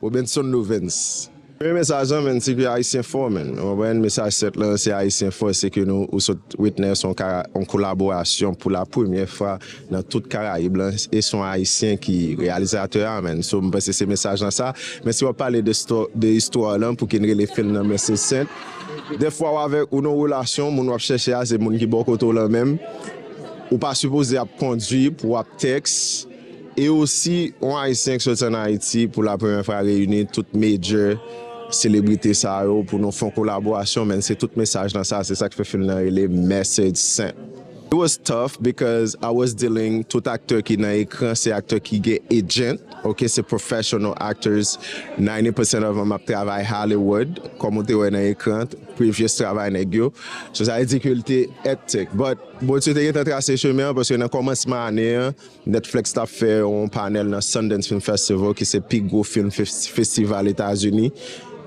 Robenson Lovens. M renmen sa jan menn se ke ayisyen fò menn ou konprann mesaj 7 lan se ayisyen fò se ke nou ou sot witness on ka on kolaborasyon pou la premyè fwa nan tout karayib lan e son ayisyen ki reyalizatè a menn so m panse se mesaj lan sa men si wap pale de sto de istwa lan pou ki n rele film nan men se senp dèfwa w avèk ou nan on relasyon moun wap chèche a se moun ki bò kote w lan menm ou pa sipoze ap kondwi pou wap tèks. E osi, yon Ayisyen ki soti ann Ayiti pou la premyè fwa reyini tout major selebrite sa yo pou nou fè yon kolaborasyon men se tout mesaj nan sa, se sa k fè fim nan rele Message Sent. It was tough because I was dealing tout aktè ki nan ekran se aktè ki gen agent ok se professional actors ninety percent of em ap travay Hollywood kòm ou te wè nan ekran previous travay nèg yo so sa vle di ke li te hectic but Bondye te gentan trase chemen an paske nan kòmansman ane an Netflix t ap fè yon panèl nan Sundance Film Festival ki se pi gwo film festival Etazini,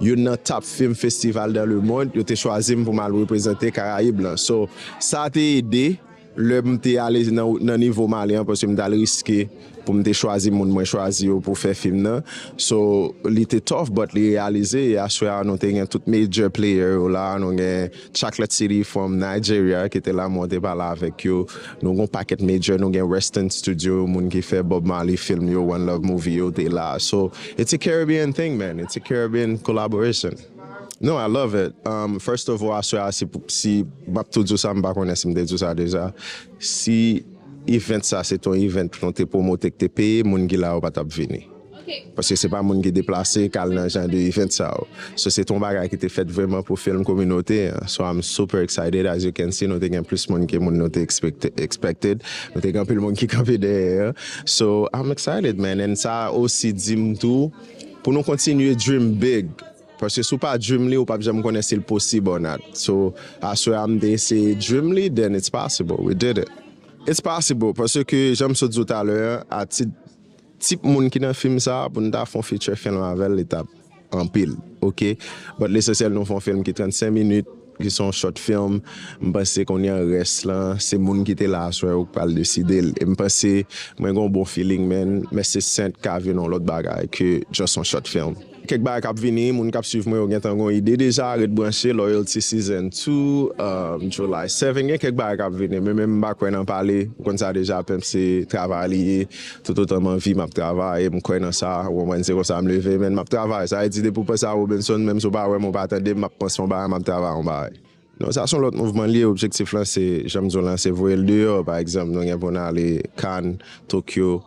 youn nan top film festival dans le monde, yo te chwazi m pou m al reprezante Karayib lan. So, sa te ede lè m te ale nan nivo m ale an paske m t al riske pou m te chwazi moun mwen chwazi yo pou fè film nan. So, li te tough but li reyalize e aswè a nou te gen tout major player yo la, nou gen. Chocolate City from Nigeria ki te la mwen te pale avèk yo nou gon pakèt major nou gen Reston studio moun ki fè Bob Marley film yo one love movie yo te la so it's a Caribbean thing man it's a Caribbean collaboration no I love it um first of all aswè a si map tou di w sa m pa konnen si m te di w sa deja si event sa se te yon event nou te promote k te peye moun ki la yo pa tap vini. Paske se pa moun ki deplase kal nan jan de event sa yo. So se te yon bagay ki te fèt vreman pou film kominote an. So I'm super excited as you can see nou te gen plis moun ke moun nou te expected. Nou te gen anpil moun ki kanpe dèyè an. So I'm excited man and sa osi di m tou pou nou kontinye dream big. Paske si w pa dream li ou pap janm konnen si l posib or not. So aswè a m te eseye dream li then it's possible we did it. It's possible paske jan m sot di w talè an a tit. Tip moun ki nan film sa pou nou ta fon feature film avèl li tap anpil ok but lesansyèl nou fon film ki 35 minit ki son short film m panse kounye an rès lan se moun ki te la aswè yo ki pral desidel em panse mwen gen yon bon feeling man men se sènt ka vin yon lòt bagay ke just yon short film. Kèk bagay kap vini, moun kap swiv mwen yo gentan gon ide deja, ret branche Loyalty Season 2, July 7 gen kèk bagay kap vini men menm mpa kwè nan pale, ou konn sa deja pimp se travay li ye, tout otan m anvi map travay e m kwè nan sa, ou konprann se konsa m leve men map travay, sa vle di depi w panse a Robenson menm si w pa wè m ou pa tande m map panse yon bagay map travay yon bagay. Non sa son lòt mouvman li ye, objektif lan se janm di w lan se voye l deyò, pa egzanp nou gen pou n ale Cannes, Tokyo,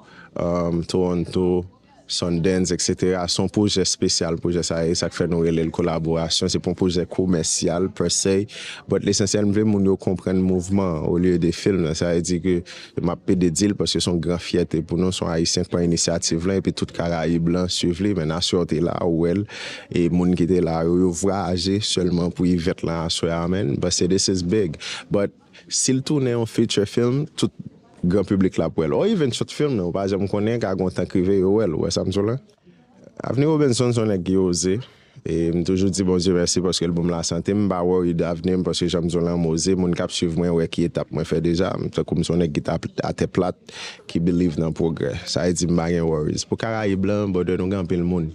Toronto, Sundance etc se yon pwojè spesyal pwojè sa ye sak fè nou rele l kolaborasyon se pa yon pwojè komèsyal per se but lesansyèl m vle moun yo konprann mouvman an olye de film nan sa vle di ke m ap pede di l paske se yon gran fyète pou nou se yon ayisyen ki pran inisyativ lan epi tout karayib lan swiv li men nasyon an te la ou wè l e moun ki te la yo yo vwayaje sèlman pou ivèt lan aswè a men m panse this is big but. Si l tounen yon feature film, tout gran piblik la ap wè l. Or even short film nan, ou pa janm konnen, ka gen yon tan k rive yo wè l, ou wè sa m di w la? Avni Robinson se yon nèg ki oze, e m toujou di Bondye mèsi paske l ban m lasante, m pa worry de avni m paske jan m di w la m oze, moun k ap swiv mwen wè ki etap mwen fè deja, m tankou m se yon nèg ki atè plat, ki believe nan pwogrè. Sa vle di m pa gen worries. Pou Karayib lan, brother, nou gen anpil moun.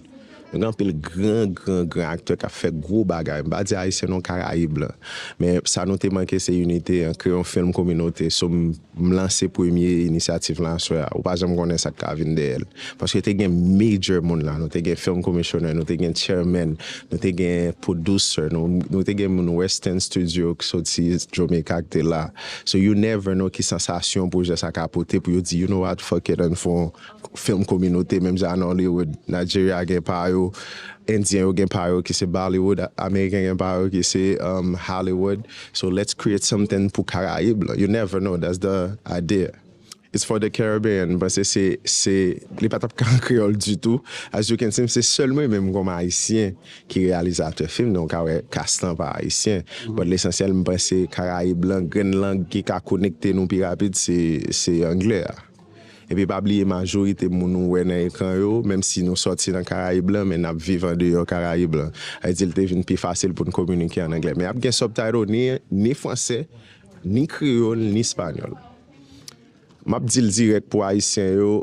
Gen anpil gran gran gran aktè kap fè gwo bagay, m pa di ayisyen non karayib lan, men sa nou te manke se inite an, kreye yon film kominote, so m lanse premye inisyativ lan aswè a, ou pa janm konnen sak ka vin dèyèl, paske te gen major moun la, nou te gen film commissioner, nou te gen chairman, nou te gen producer, nou te gen moun western studio ki soti Jamaica ki te la, so you never know ki sansasyon projè sa ka pote pou yo di you know what fuck it ann fon film kominote menm jan a Nollywood, Nigeria gen pa yo, Indien yo gen pa yo ki se Bollywood, American gen pa yo ki se Hollywood, so let's create something pou Karayib lan, you never know that's the idea. It's for the Caribbean, m'panse se se li pa tap ka an kreyòl ditou, as you can see m'se sèl mwen menm kòm ayisyen ki reyalizatè film nan, ou ka wè cast lan pa ayisyen, but lesansyèl m'panse Karayib lan grenn lang ki ka konekte nou pi rapid se se anglè a. Epi pa bliye majorite moun ou wè nan ekran yo, menm si nou sòti nan Karayib lan, men n ap viv andeyò Karayib lan. Sa vle di li te vin pi fasil pou n kominike an anglè. Men ap gen subtitle ni ni franse, ni kreyòl, ni espanyòl. M ap di l dirèk pou Ayisyen yo,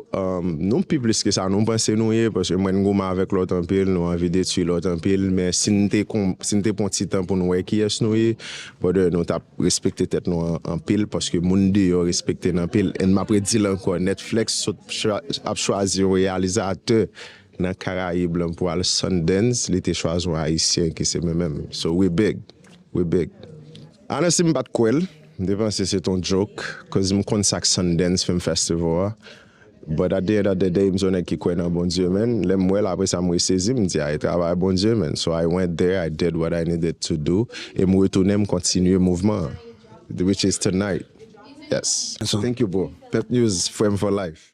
nou pi plis ke sa nou panse nou ye, paske mwen n goumen avèk lòt anpil, nou anvi detui lòt anpil, men si n te pran ti tan pou n wè kiyès nou ye, brother, nou t ap. Respekte tèt nou anpil paske moun deyò respekte n anpil and map redil ankò Netflex sot ap chwazi yon reyalizatè nan karayib lan pou al Sundance li te chwazi yon ayisyen ki se mwen menm so we big we big a nan si m pat kwè l m te panse se t yon joke koz m konn sak Sundance film festival a But at the end of the day m s on nèg ki kwè nan Bondye man, lèm wèl apresa m resezi m di a e travay Bondye man, so I went there I did what I needed to do e m retounen m kontinye mouvman an which is tonight yes thank you bro pep news frèm for life.